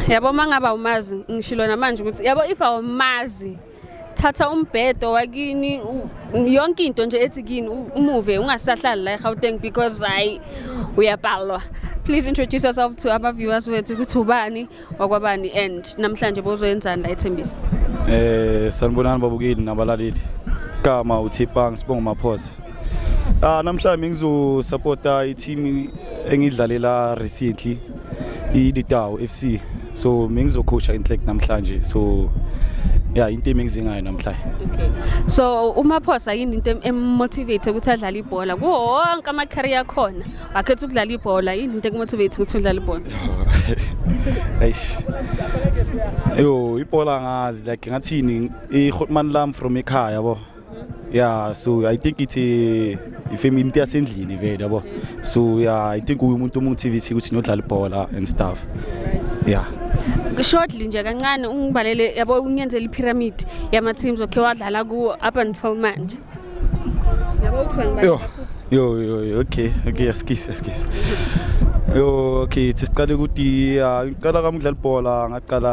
yabo uma ngaba umazi ngishilo namanje ukuthi yabo if awumazi thatha umbhedo wakini yonke into nje ethi kini umuve ungasahlali la eGauteng because hayi uyabhalwa please introduce yourself to our viewers wethu ukuthi ubani wakwabani and namhlanje bozoyenzani la ethembisa eh sanibonani babukeli nabalaleli kama uthipang sibonga maphosa ah namhlanje ngizosupporta i-team engidlalela recently ilitawu f c so mengizokhosha inhlek namhlanje so ya into emengize ngayo namhlanje okay so umaphosa yini into emotivate ukuthi adlale ibhola kuwo wonke ama-career akhona wakhetha ukudlala ibhola yini into ekumotivate ukuthi udlale ibhola eish yo ibhola ngazi like ngathini ihotman lam from ekhaya bo yeah so i think it's a ifame into yasendlini vele yabo so yeah i think umuntu omotivate ukuthi nodlala ibhola and stuff yeah shortly nje kancane ungibalele yabo ungenzela ipyramid yama teams okay wadlala ku up until manje yabo uthi yo yo yo okay okay eskisi eskisi yo okay siqale ukuthi ah, ngiqala kamudlala ibhola ngaqala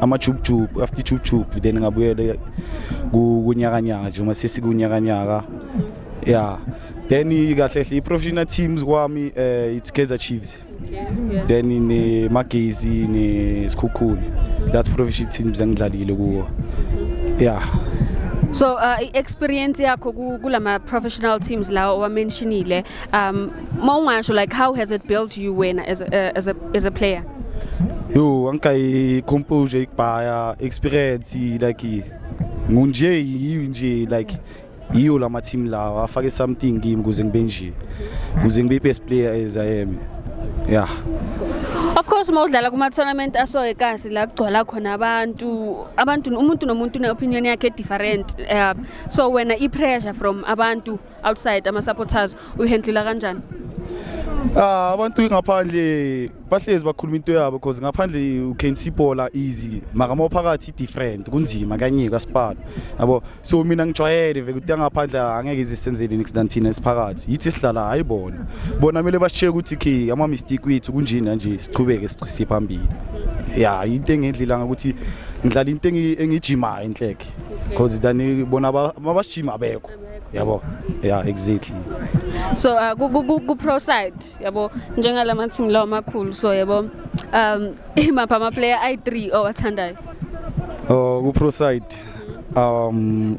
amajubujubu after ijubujubu then ngabuyele kunyakanyaka nje uma sesikunyakanyaka ya then kahle hle i-professional teams kwami um it's kaizer chiefs then nemagezi nesikhukhuni that's professional teams engidlalile kuwo ya so uh, i-experience yakho kulama-professional teams lawo owamentionile um Uma ungasho like how has it built you wena as a, uh, as a, as a player? Yo, anka i composure ikubhaya experience like ngunje yiyo nje like yiyo la ma-team lawa afake something kimi kuze ngibe nje kuze ngibe i-best player as i am yeah Of course uma udlala kuma tournament asoke kasi la kugcwala khona abantu abantu umuntu nomuntu une opinion yakhe different uh, so wena i pressure from abantu outside ama supporters uyihandlela kanjani Ah abantu ngaphandle bahlezi bakhuluma into yabo because ngaphandle u can see bola easy maka mophakathi different kunzima kanye kaSpan yabo so mina ngijwayele vele ukuthi ngaphandle angeke izisenzele next than thina esiphakathi yithi sihlala hayi bona bona mele basheke ukuthi ke ama mistake wethu kunjini kanje siqhubeke siqhise phambili ya into engendlela ngakuthi ngidlala into engijimayo inhleke because than bona mabashima abekho yabo yeah exactly so uh, ku, ku, ku, ku pro side yabo njengala ma team lawa makhulu so yabo um imapha ama player i3 owathandayo oh ku pro side um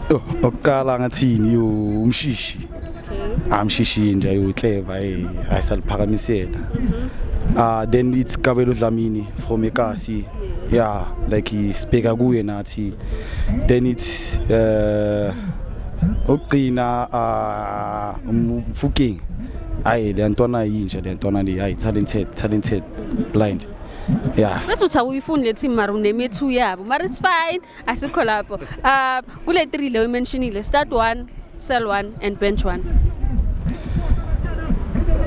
oh, okuqala ngathini yo umshishi okay. amshishi nje yo clever eh ayisaliphakamisela mhm. ah uh, then it's Kabelo Dlamini from Ekasi yeah like isibheka kuye nathi City then it's uh ukugcina uh umfuking ayi le ntwana yinje le ntwana le ayi talented talented blind yeah bese uthi awuyifuni le team mara unemethu yabo mara it's fine asikho lapho uh kule 3 leyo imentionile start 1 sell 1 and bench 1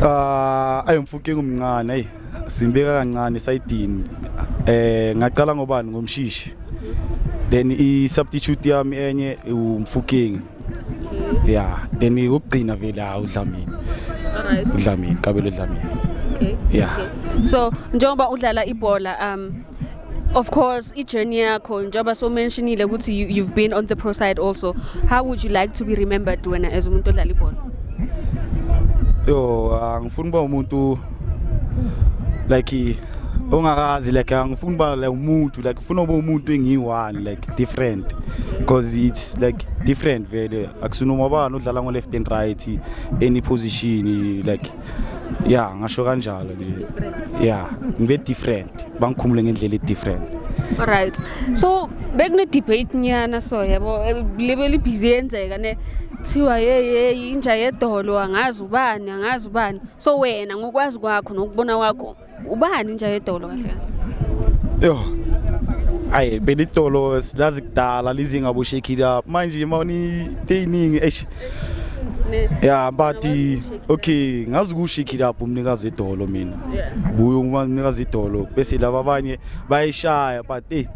uh ayimfuking umncane ayi Simbeka kancane sayidini. Eh ngaqala ngobani ngomshishi. Then i substitute yami enye umfukingi. Yeah, then ukugcina vele ha uDlamini. Alright. uDlamini, Kabelo Dlamini. Okay. Yeah. Okay. So njengoba udlala ibhola um Of course, i-journey yakho njengoba so mentionile ukuthi you, you've been on the pro side also. How would you like to be remembered wena as umuntu odlala ibhola? Yo, angifuni uba umuntu like ongakazi like angifuni uba like umuntu like ufuna uba umuntu engiyi-one like different because it's like different vele akusinoma bani odlala ngo-left and right any position like ya ngasho kanjalo nje ya ngibe different bangikhumule ngendlela e-different alright so bekune-debate nyana so yabo eh, lebe libhizi yenzeka ne kuthiwa yeyeyi inja yedolo angazi ubani angazi ubani so wena ngokwazi kwakho nokubona kwakho ubani inja yedolo kahle kahle yo ayi belitolo silazi kudala lizinga bo shake it up manje uma uniteyiningi eish ya but okay ngazi ukushake it up umnikazi edolo mina buyo umnikazi edolo bese laba abanye bayishaya but hey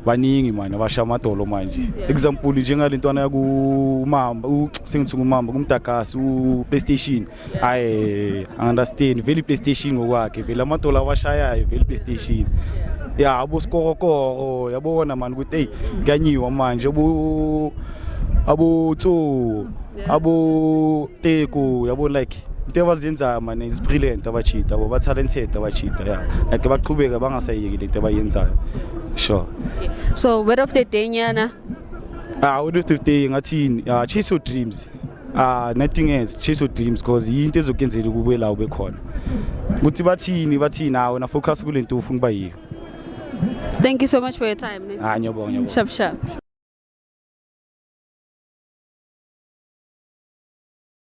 baningi manje abasha amadolo manje example njengalentwana yakumamba sengithi kumamba kumdagasi uPlaystation hayi understand vele iplaystation ngokwakhe vele amadola awashayayo vele iplaystation ya abosikokokoko yabona mani ukuthi eyi kuyanyiwa manje abo abotso aboteko yabo like into abazenzayo mane is brilliant abachita abo ba-talented abachita ya like baqhubeke bangasayeki le nto abayenzayo sure okay. so word of the day nyana ah word of the day ngathini ya chase your dreams Ah nothing else chase your dreams because yinto ezokenzela ukube la ube khona. Ukuthi bathini bathini nawe na focus kule nto ufuna kuba yiyo. Thank you so much for your time. ne? Ah ngiyabonga ngiyabonga. Sharp sharp.